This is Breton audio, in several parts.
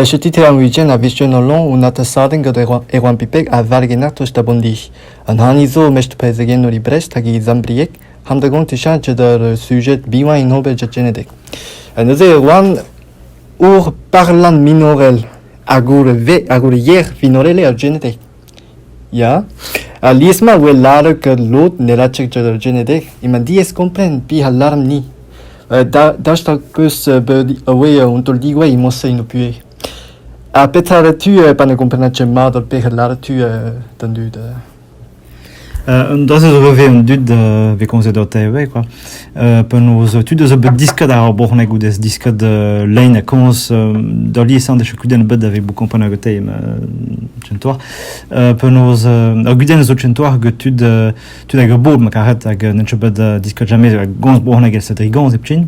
Chetit er wijenn a-vichen an lanv un atasadenn gant Erwan Pipeg a valgener tost da Bondi. An hani zo mestr prezegennoù e Brest hag e Zambrieg, hanter-gont echañchet ur sujed bihan en ober Tchenedeg. Neuze Erwan ur parlant minorel hag ur ve hag ur yer vinorel er Tchenedeg. Ya, alies-mañ a wel lâret ket lod ne raio ket ur genedeg emañ diaes kompren pezh a lâran-ni. Daoust ha 'peus bet awe un taol digouezh e-mañ-se eno puhez? Ha petra 'ra tu pa ne gomprenas ket mat ar pezh a lâra tu d'an dud? Un dazez zo ivez an dud a vez komzet o TV quoi. penaos tud a zo bet diskat ar brezhoneg goude diskat lein ha komz da liesseñ da kudenn a bed da vez bout komprenet gant te tchentouar. penaos ar gudenn zo tchentouar gant tud tud hag a bob ma karet hag n'en bet diskat jamais hag gomz brezhoneg el sedri gomz heptin.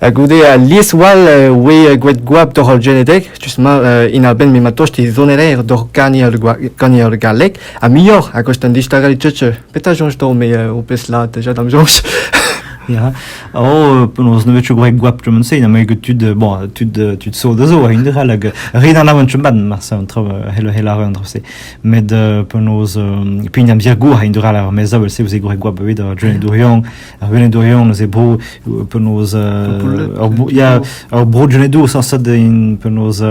Ha goude alies all e oe gouet goap doc'h al genedeg, justement, en abenn m'emañ tost e zoneraer doc'h gagneur galleg, ha muioc'h, a gost an distagañ tutsu. Petra joñs to me o pez la deja dam joñs? Ya, oh, penaos ne vetu gwreg goap tremen-se, na me tud, bon, tud, tud so da zo, a indre all, hag rin an avan chumban, mar sa an trav, hel, hel ar an trav-se. Met, penaos, pi an amzer gour, a indre all ar mezavel se, ouzé gwreg goap bevit, ar dren dourion, Ar Venedorion eus e bro, penaos ar bro Genedo sañset in penaos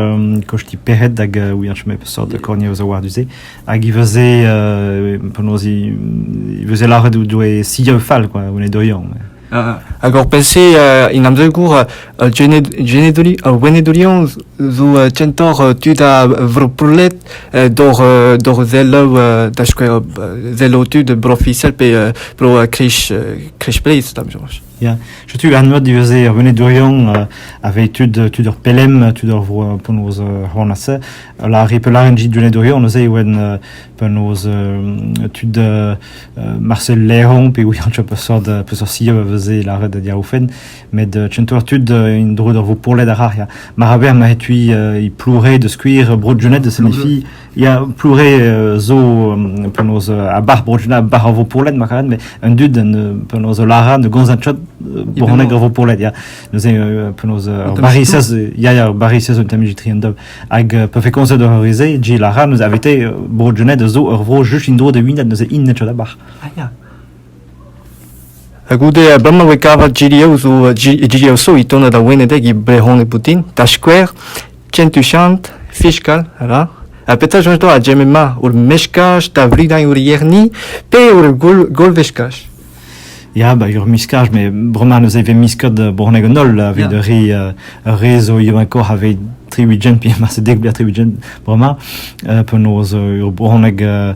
kosti pec'hed hag ouiañch me peseurt korniañ eus a war du-se hag i veze penaos i veze laret doe sia fall quoi Venedorion. Hag hor pelse in amzer gour Al genedoli, ar gwenedoliañs zo kentoc'h tud a vroprolet d'hor selaou, da skouer selaou tud bro-ofisiel pe bro-krich Bleiz, da soñj. Ya, setu an eur diweze ar venedorion aveit tud tud ur pelem, tud ur vro penaos c'hoanase, la ripelarenn dit venedorion neuze e oen penaos tud Marcel Leron pe wir peseurt peseurt siob a veze laret da diaoufenn, met euh, tu ar tud euh, en dro d'ur pourlet ar c'har ya maraber ma etui e ploure de skuir bro Junet se mefi ya ploure zo penaos a bar bro Junet a bar vo pourlet ma karet mais un dud penaos lara ne gonzat chot boranek vo pourlet ya neuze penaos bari sez ya ya bari sez un tamijitri en dob hag pe fe konzet ur rize ji lara neuze avete bro Junet zo ur vro juste in dro de winet neuze in net chot a bar ah ya Ha goude uh, bremañ e voe kavet GDO zo uh, GDO so e tonad ar Wenedeg e brehoneg boutin, da skouer, Kentuchant, Fiskal, ra, ha petra soñj doa a ma ur meskaj da vridañ ur yerni pe ur golveskaj? Ya, ba, ur miskaj, me bremañ neuze vez miskot uh, bronneg an holl, evit yeah. ri ur re zo ivakoc'h aveit triwigent, pi ma se dek bia triwigent bremañ, uh, penaos ur bronneg uh,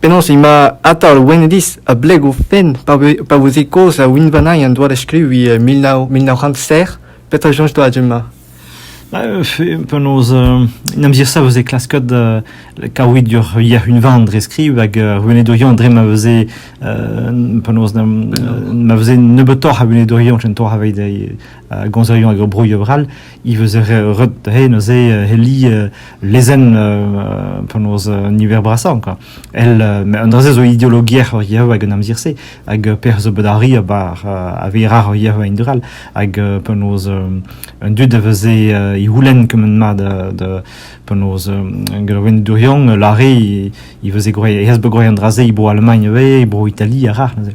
Penaos emañ Atal Wenediz a-bleg o fenn pa veze kaoz a unvanañ en doa da skriviñ e mil nav, mil nav c'hant sec'h. Petra soñj doa du-mañ? Penaos en amzer sa veze klasket kavout ur yac'h-unvan dre skriv hag ar wenedurion dre ma veze penaos ma veze nebeutoc'h a wenedurion kentoc'h aveit gomzerion hag ur broioù avrall he veus ret he neuze he li lezenn penaos an niver brasañ quoi el un dra-se zo ideologier hor Yehova hag an amzer-se hag pec'h zo bet arri abar a veira hor Yehova indurall hag penaos un dud a veze he houlenn kement mat de penaos gant ven durian lare he veze gwraet he has bet gwraet an dra-se he bro Allemagne ivez he bro Italie a ra neuze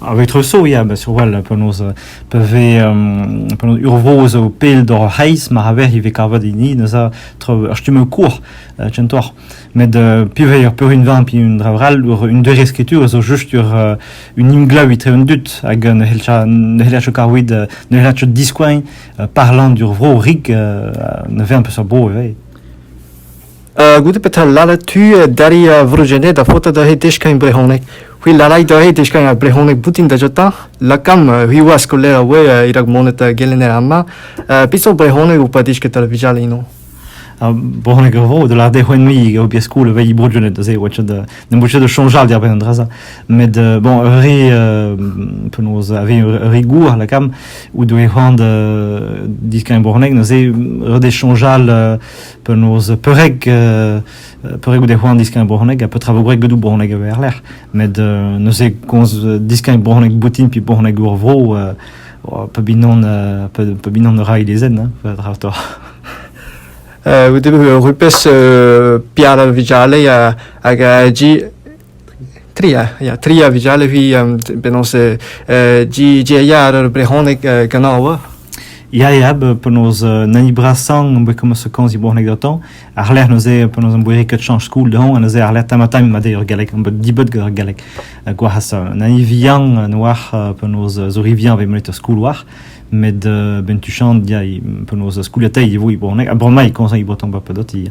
Ar Vitresoù ya, bah surwall penaos pa vez penaos ur vro zo pell doc'h ar c'hreiz ma c'haver ivez kavet hini neuze tro ar stummoù kour kentoc'h met piv eo ar peurunvan pe un dra all un doare skritur zo just ur un emglev etre an dud hag ne c'heller chouk kavout ne c'heller chouk diskoagn parlant d'ur vro rik ne vez an peseurt bro ivez. goude petra laret tu d'arri Vrugenez da faota da he deskagn brehoneg c'hwi larait da he deskagn ar brehoneg boutin da jota lakan c'hwiwaz skoler a oe irak monet gelenner ama peseurt brehoneg ou pa disket ar vijal ino Brehoneg a vo, da lade c'hwen mi eo bia skoul vei Brugenez da se, oa ne bout de chanjal diar ben an draza. Met, bon, re, penaos, ave re gour, la cam, ou doe c'hoant disken Brehoneg, no se, re de chanjal penaos peurreg euh, peurreg goude c'hoant diskagn bronneg ha petra vo gwreg gedou bronneg e erlec'h met euh, neuze komz diskagn bronneg boutin pi bronneg ur vro euh, oh, pa binon euh, pa binon rai lezen hein, pa dra to euh, Vous devez rupes euh, Pierre Vijale hag a Tri a ya, tri a vugale vi, penaos Ji a ya ar brehoneg ganañ oa. Ya, ya, penaos nani brasan, be komas a kanz i brehoneg daton, ar lec'h neuze penaos am boe ket chanch skoul dehon, neuze ar lec'h tamatam ma ur galleg, am dibot gant ar galleg gwaras. Nani vian noar penaos zori vian ve monet skoul war, met ben tu chant ya, penaos skoul a tailh e vo i brehoneg, a brema i kanz i breton ba pedot i.